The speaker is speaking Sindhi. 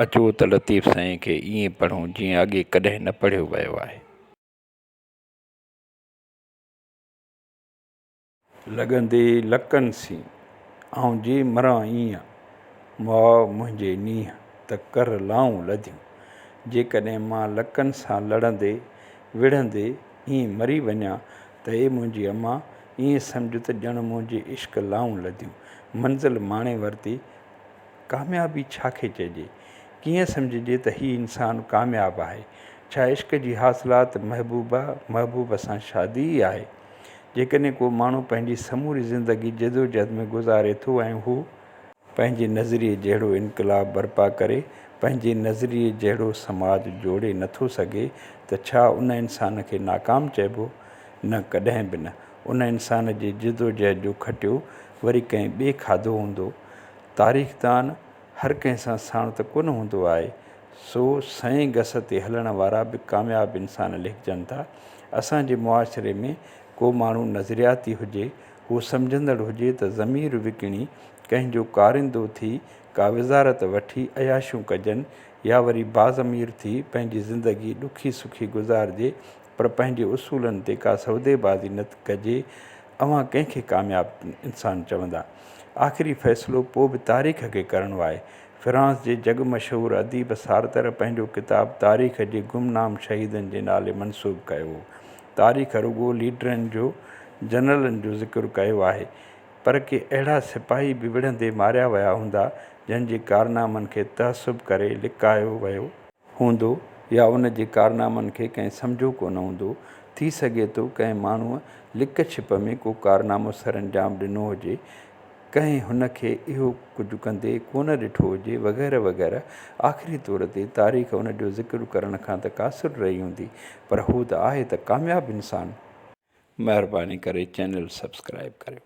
اچو ته لطيف سائين کي ائين پڙهون جيئن اڳي ڪڏهن نه پڙهيو ويو آهي. لڳندي لڪن سين، آئون جي مران ايئن، مئا منهنجي نينهن ته ڪر لائون لڌيون. جيڪڏهن مان لڪن سان لڙندي، وڙهندي ائين مري وڃان ته اي منهنجي اما، ائين سمجهه ته ڄڻ منهنجي عشق لائون لڌيون، منزل ماڻي ورتي. ڪاميابي ڇا کي چئجي؟ ڪيئن سمجهجي ته هي انسان ڪامياب آهي؟ ڇا عشق جي حاصلات محبوبه، محبوب سان شادي ئي آهي؟ جيڪڏهن ڪو ماڻهو پنهنجي سموري زندگي جدوجهد ۾ گذاري ٿو ۽ هو. پنهنجي نظريي جهڙو انقلاب برپا ڪري، پنهنجي نظريي جهڙو سماج جوڙي نٿو سگهي ته ڇا ان انسان کي ناڪام چئبو؟ نه ڪڏهن به نه. ان انسان جي جدوجهد جو کٽيو وري ڪنهن ٻئي کاڌو هوندو. تاريخدان هر ڪنهن سان ساڻ ته ڪونه هوندو آهي. سو سئين گس تي هلڻ وارا به ڪامياب انسان ليکجن ٿا. اسان جي معاشري ۾ ڪو ماڻهو نظرياتي هجي هو سمجهندڙ هجي ته ضمير وڪڻي ڪنهن جو ڪارندو ٿي ڪا وزارت وٺي عياشيون ڪجن يا وري باضمير ٿي پنهنجي زندگي ڏکي سکي گذارجي پر پنهنجي اصولن تي ڪا سوديبازي نه ڪجي اوهان ڪنهن کي ڪامياب انسان چوندا؟ آخري فيصلو پوء به تاريخ کي ڪرڻو آهي. فرانس جي جڳ مشهور اديب سارتر پنهنجو ڪتاب تاريخ جي گمنام شهيدن جي نالي منسوب ڪيو هو. تاريخ رڳو ليڊرن جو، جنرلن جو ذڪر ڪيو آهي، پر ڪي اهڙا سپاهي به وڙهندي ماريا ويا هوندا، جن جي ڪارنامن کي تعصب ڪري لڪايو ويو. هوندو يا ان جي ڪارنامن کي ڪنهن سمجهيو ڪونه هوندو. ٿي سگهي ٿو ڪنهن ماڻهوء لڪ ڇپ ۾ ڪو ڪارنامو سرانجام ڏنو هجي. ڪنهن هن کي اهو ڪجهه ڪندي ڪونه ڏٺو هجي وغيره وغيره آخري طور تي تاريخ ان جو ذڪر ڪرڻ کان ته قاصر رهي هوندي پر هو ته آهي ته ڪامياب انسان. مهرباني ڪري چينل سبسڪرائب ڪريو.